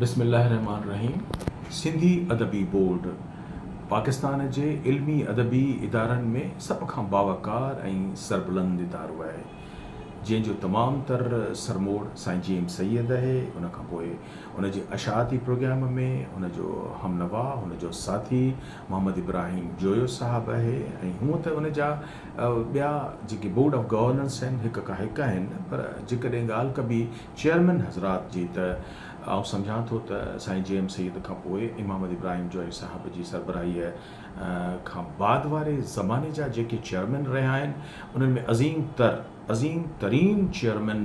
بسم الله الرحمٰن الرحيم سنڌي ادبي بورڊ پاڪستان جي علمي ادبي ادارن ۾ سڀ کان باوقار ۽ سربلند ادارو آهي جنهن جو تمام تر سرموڙ سائين جي ايم سيد آهي ان کان پوء ان جي اشاعتي پروگرام ۾ ان جو همنوا ان جو ساٿي محمد ابراهيم جويو صاحب آهي ۽ هونء ته ان جا ٻيا جيڪي بورڊ آف گورننس آهن هڪ کان هڪ آهن پر جيڪڏهن ڳالهه ڪبي چيئرمين حضرات جي ته آئون سمجهان ٿو ته سائين جي ايم سيد کان پوء امام علي ابراهيم جويي صاحب جي سربراهي کان بعد واري زماني جا جيڪي چيئرمين رهيا آهن انهن ۾ عظيم تر عظيم ترين چيئرمين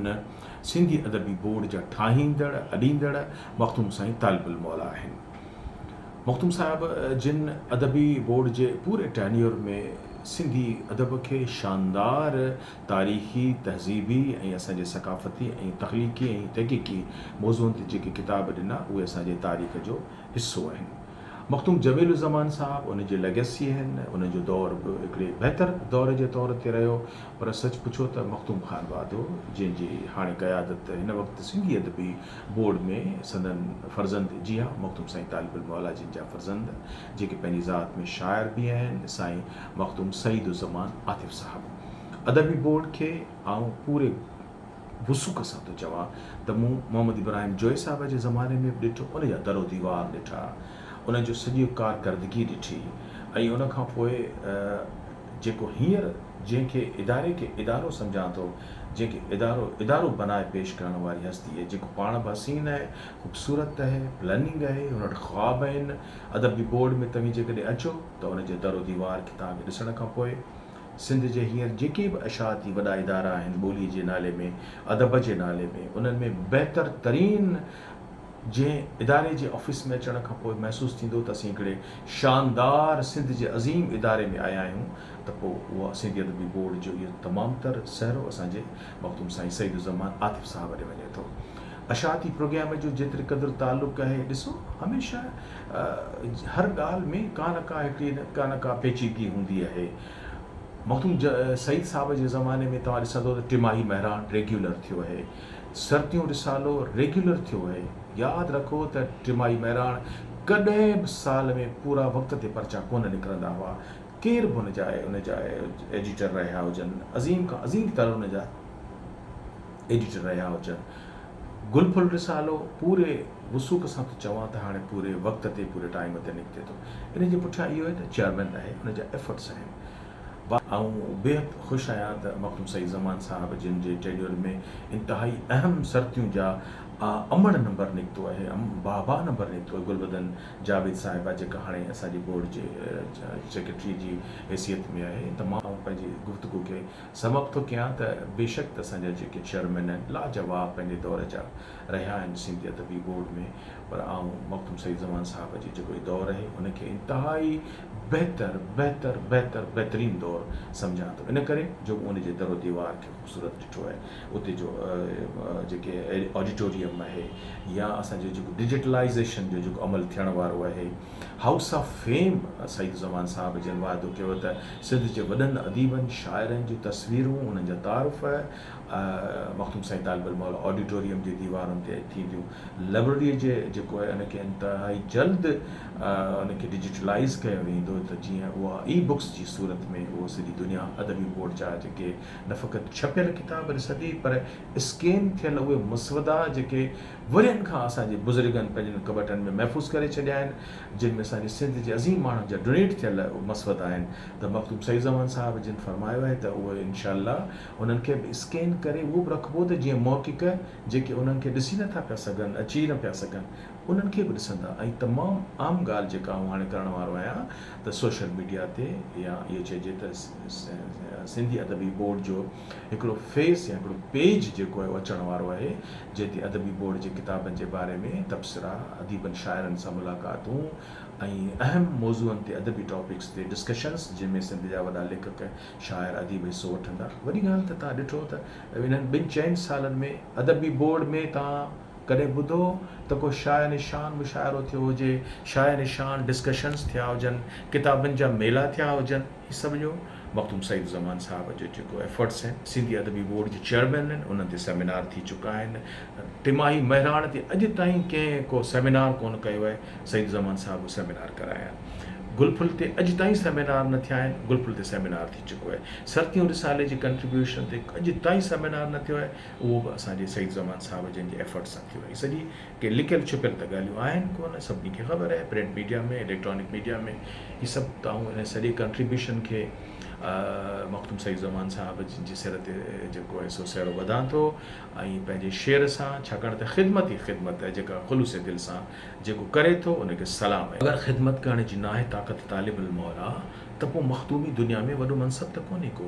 سنڌي ادبي بورڊ جا ٺاهيندڙ اڏيندڙ مخدوم سائين طالب الموليٰ آهن. مخدوم صاحب جن ادبي بورڊ جي پوري ٽينيور ۾ سنڌي ادب کي شاندار تاريخي، تهذيبي ۽ اسان جي ثقافتي ۽ تخليقي ۽ تحقيقي موضوعن تي جيڪي ڪتاب ڏنا اهي اسان جي تاريخ جو حصو آهن. مخدوم جميل الزمان صاحب ان جي ليگسي آهن. انهن جو دور به هڪڙي بهتر دور جي طور تي رهيو پر سچ پڇو ته مخدوم خان واڌو جنهن جي هاڻي قيادت هن وقت سنڌي ادبي بورڊ ۾ سندن فرزند جي ها مخدوم سائين طالب الموليٰ جن جا فرزند جيڪي پنهنجي ذات ۾ شاعر به آهن سائين مخدوم سعيد الزمان عاطف صاحب ادبي بورڊ کي آئون پوري وثوق سان ٿو چوان ته مون محمد ابراهيم جويي صاحب جي زماني ۾ به ڏٺو ان جا در و ديوار ڏٺا ان جو سڄي ڪارڪردگي ڏٺي ۽ ان کان پوء جيڪو هينئر جنهن کي اداري کي ادارو سمجهان ٿو، جنهن کي ادارو ادارو بنائي پيش ڪرڻ واري هستي اهي جيڪو پاڻ به حسين اهي، خوبصورت اهي، پلئننگ اهي، هن وٽ خواب اهن، ادبي بورڊ ۾ توهين جيڪڏهن اچو ته ان جي در و ديوار کي توهان کي ڏسڻ کان پوء سنڌ جي هينئر جيڪي به اشاعتي وڏا ادارا آهن ٻولي جي نالي ۾ ادب جي نالي ۾ انهن ۾ بهتر ترين جنهن اداري جي آفيس ۾ اچڻ کان پوء محسوس ٿيندو ته اسين هڪڙي شاندار سنڌ جي عظيم اداري ۾ آيا آهيون ته پوء اها سنڌي ادبي بورڊ جو اهو تمام تر سهرو اسان جي مخدوم سائين سعيد الزمان عاطف صاحب ڏي وڃي ٿو. اشاعتي پروگيام جو جيتري قدر تعلق آهي ڏسو هميشه هر ڳالهه ۾ ڪا نه ڪا هڪڙي ڪا نه ڪا پيچيدگي هوندي آهي مخدوم سعيد صاحب جي زماني ۾ توهان ڏسندو ته ٽماهي مهراڻ ريگيولر ٿيو آهي سرتيون رسالو ريگيولر ٿيو اهي. ياد رکو ته ٽيمائي مهراڻ ڪڏهن به سال ۾ پورا وقت تي پرچا ڪونه نڪرندا هئا. ڪير به ان جا ان جا ايڊيٽر رهيا هجن، عظيم کان عظيم تر ان جا ايڊيٽر رهيا هجن. گل ڦل رسالو پوري وثوق سان ٿو چوان ته هاڻي پوري وقت تي پوري ٽائيم تي نڪتي ٿو. ان جي پٺيان اهو آهي ته چيئرمين رهي ان جا ايفرٽس آهن. ڀا! آئون بيحد خوش آهيان ته مرحوم سيد زمان صاحب جن جي ٽينيور ۾ انتهائي اهم سرتيون جا امڙ نمبر نڪتو اهي، ام باء باء نمبر نڪتو اهي، گلبدن جاويد صاحبه جيڪا هاڻي اسان جي بورڊ جي سيڪريٽريء جي حيثيت ۾ آهي ته مان آئون پنهنجي گفتگو کي سم اپ ٿو ڪيان ته بيشڪ ته اسان جا جيڪي چيئرمين آهن لاجواب پنهنجي دور جا رهيا آهن سنڌي ادبي بورڊ ۾ پر آئون مرحوم سيد زمان صاحب جي جيڪو هي دور اهي ان کي انتهائي بهتر بهتر بهتر بهترين دور سمجهان ٿو ان ڪري جو مون ان جي در و ديوار کي خوبصورت ڏٺو آهي اتي جو جيڪي آڊيٽوريم آهي يا اسان جو جيڪو ڊجيٽلائيزيشن جو جيڪو عمل ٿيڻ وارو آهي house of fame Saeed Uzzaman sahib جن وعدو ڪيو ته سنڌ جي وڏن اديبن شاعرن جون تصويرون انهن جا تعارف مخدوم سائين طالب الموليٰ آڊيٽوريم جي ديوارن تي ٿينديون لائبريري جي جيڪو آهي ان کي انتهائي جلد ان کي ڊجيٽلائيز ڪيو ويندو ته جيئن اها اي بڪس جي صورت ۾ اهو سڄي دنيا ادبي بورڊ جا جيڪي نه فقط ڇپيل ڪتاب ڏسندي پر اسڪين ٿيل اهي مسودا جيڪي ورهين کان اسان جي بزرگن پنهنجن ڪٻٽن ۾ محفوظ ڪري ڇڏيا آهن جن ۾ اسان جي سنڌ جي عظيم ماڻهن جا ڊونيٽ ٿيل مسودا آهن ته مخدوم سعيد زمان صاحب جن فرمايو آهي ته اهي انشاء الله انهن کي به اسڪين ڪري اهو به رکبو ته جيئن محقق جيڪي انهن کي ڏسي نه ٿا پيا سگهن اچي نه پيا سگهن انهن کي به ڏسندا ۽ تمام عام ڳالهه جيڪا آئون هاڻي ڪرڻ وارو آهيان ته سوشل ميڊيا تي يا اهو چئجي ته سنڌي ادبي بورڊ جو هڪڙو فيس يا هڪڙو پيج جيڪو آهي اهو اچڻ وارو آهي جنهن تي ادبي بورڊ جي ڪتابن جي باري ۾ تبصرا، اديبن شاعرن سان ملاقاتون ۽ اهم موضوعن تي ادبي ٽاپڪس تي ڊسڪشنس جنهن ۾ سنڌ جا وڏا ليکڪ، شاعر، اديب حصو وٺندا. وڏي ڳالهه ته تان ڏٺو ته انهن ٻن چئن سالن ۾ ادبي بورڊ ۾ تان. ڪڏهن ٻڌو ته ڪو شايع نشان مشاعرو ٿيو هجي، شايع نشان ڊسڪشنز ٿيا هجن، ڪتابن جا ميلا ٿيا هجن، هي سڀ جو مخدوم سعيد الزمان صاحب جو جيڪو ايفرٽس آهن، سنڌي ادبي بورڊ جي چيئرمين آهن، انهن تي سيمينار ٿي چڪا آهن، ٽماهي مهراڻ تي اڄ تائين ڪنهن ڪو سيمينار ڪونه ڪيو آهي، سعيد الزمان صاحب اهو سيمينار ڪرايا آهن، گل ڦل تي اڄ تائين سيمينار نه ٿيا آهن، گل ڦل تي سيمينار ٿي چڪو آهي، سرتيون رسالي جي ڪنٽريبيوشن تي اڄ تائين سيمينار نه ٿيو آهي، اهو به اسان جي سعيد زمان صاحب جن جي ايفرٽ سان ٿيو. هي سڄي ڪي لڪيل ڇپيل ته ڳالهيون آهن ڪونه، سڀني کي خبر آهي پرنٽ ميڊيا ۾ اليڪٽرانڪ ميڊيا ۾ هي سڀ ته آئون ان سڄي ڪنٽريبيوشن کي مخدوم سعيد زمان صاحب جن جي سر تي جيڪو آهي سو سهرو ٻڌان ٿو ۽ پنهنجي شعر سان ڇاڪاڻ ته خدمت ئي خدمت آهي جيڪا خلوص دل سان جيڪو ڪري ٿو ان کي سلام ۽. اگر خدمت ڪرڻ جي ناهي طاقت طالب الموليٰ ته پوء مخدومي دنيا ۾ وڏو منصب ته ڪونهي ڪو.